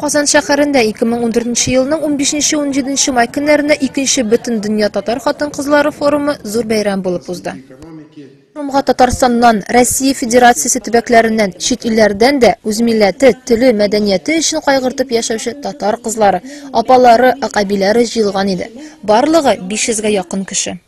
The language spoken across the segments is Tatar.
Казан шәһәрендә 2014 елның 15-17 май көннәрендә икенче бөтен дөнья татар хатын-кызлары форумы зур бәйрәм булып узды. Форумга Татарстаннан, Россия Федерациясе төбәкләреннән, чит илләрдән дә үз милләте, теле, мәдәнияте өчен кайгыртып яшәүче татар кызлары, апалары, акъәбиләре җыелган иде. Барлыгы 500 гә якын кеше.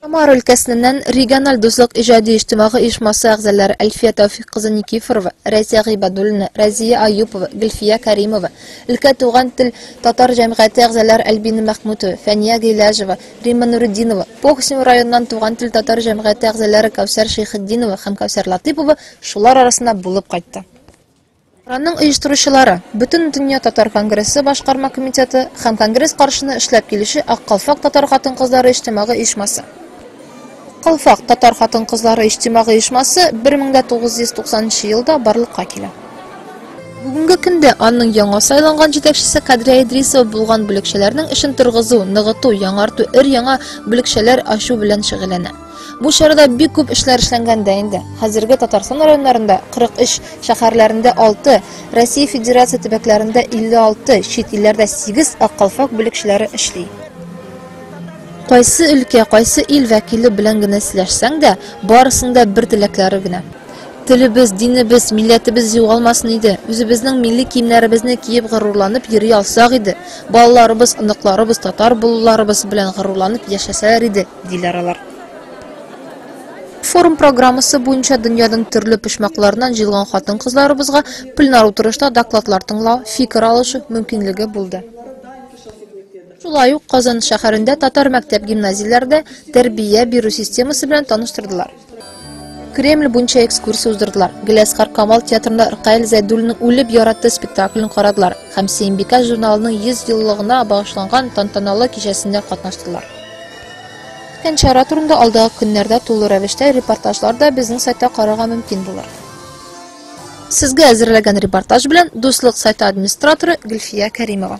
Самара өлкәсеннән региональ дуслык иҗади иҗтимагы оешмасы әгъзалары Әлфия Тәүфик кызы Никифорова, Рәйсә Гыйбадуллина, Рәзия Аюпова, Гөлфия Кәримова, өлкә туган тел татар җәмгыяте әгъзалары Әлбина Мәхмүтова, Фәния Гыйләҗева, Римма Нуретдинова, Похсим районыннан туган тел татар җәмгыяте әгъзалары Кәүсәр Шәйхетдинова һәм Кәүсәр Латыйпова шулар арасында булып кайтты. Аның оештыручылары, Бөтендөнья татар конгрессы башкарма комитеты һәм конгресс каршына эшләп килүче Ак калфак татар хатын-кызлары иҗтимагый оешмасы. Ак калфак татар хатын-кызлары иҗтимагый оешмасы 1990 нчы елда барлыкка килә. Бүгенге көндә аның яңа сайланган җитәкчесе Кадрия Идрисова булган бүлекчәләрнең эшен торгызу, ныгыту, яңарту, өр-яңа бүлекчәләр ачу белән шөгыльләнә. Бу чарада бик күп эшләр эшләнгән дә инде. Хәзерге Татарстан районнарында 43, шәһәрләрендә 6, Россия Федерация төбәкләрендә 56, чит илләрдә 8 ак калфак бүлекчәләре эшли. Кайсы өлкә, кайсы ил вәкиле белән генә сөйләшсәң дә, барысында бер теләкләре генә. Телебез, динебез, милләтебез югалмасын иде. Үзебезнең милли киемнәребезне киеп горурланып йөри алсак иде. Балаларыбыз, оныкларыбыз татар булуларыбыз белән горурланып яшәсәләр иде. диләр алар. Форум программасы буенча дөньяның төрле почмакларыннан җыелган хатын-кызларыбызга пленар утырышта докладлар тыңлау, фикер алышу мөмкинлеге булды. Шулай ук Казан шәһәрендә татар мәктәп-гимназияләрдә тәрбия бирү системасы белән таныштырдылар. Кремль буенча экскурсия уздырдылар. Геләскар Камал театрында Ркаил Зәйдуллинның Үлеп яратты спектаклен карадылар һәм Сиембикә журналының 100 еллыгына багышланган тантаналы кичәсендә катнаштылар. Үткән чара турында алдагы көннәрдә тулы рәвештә репортажлар да безнең сайтта карарга мөмкин булыр. Сезгә әзерләгән репортаж белән Дуслык сайты администраторы Гөлфия Кәримова.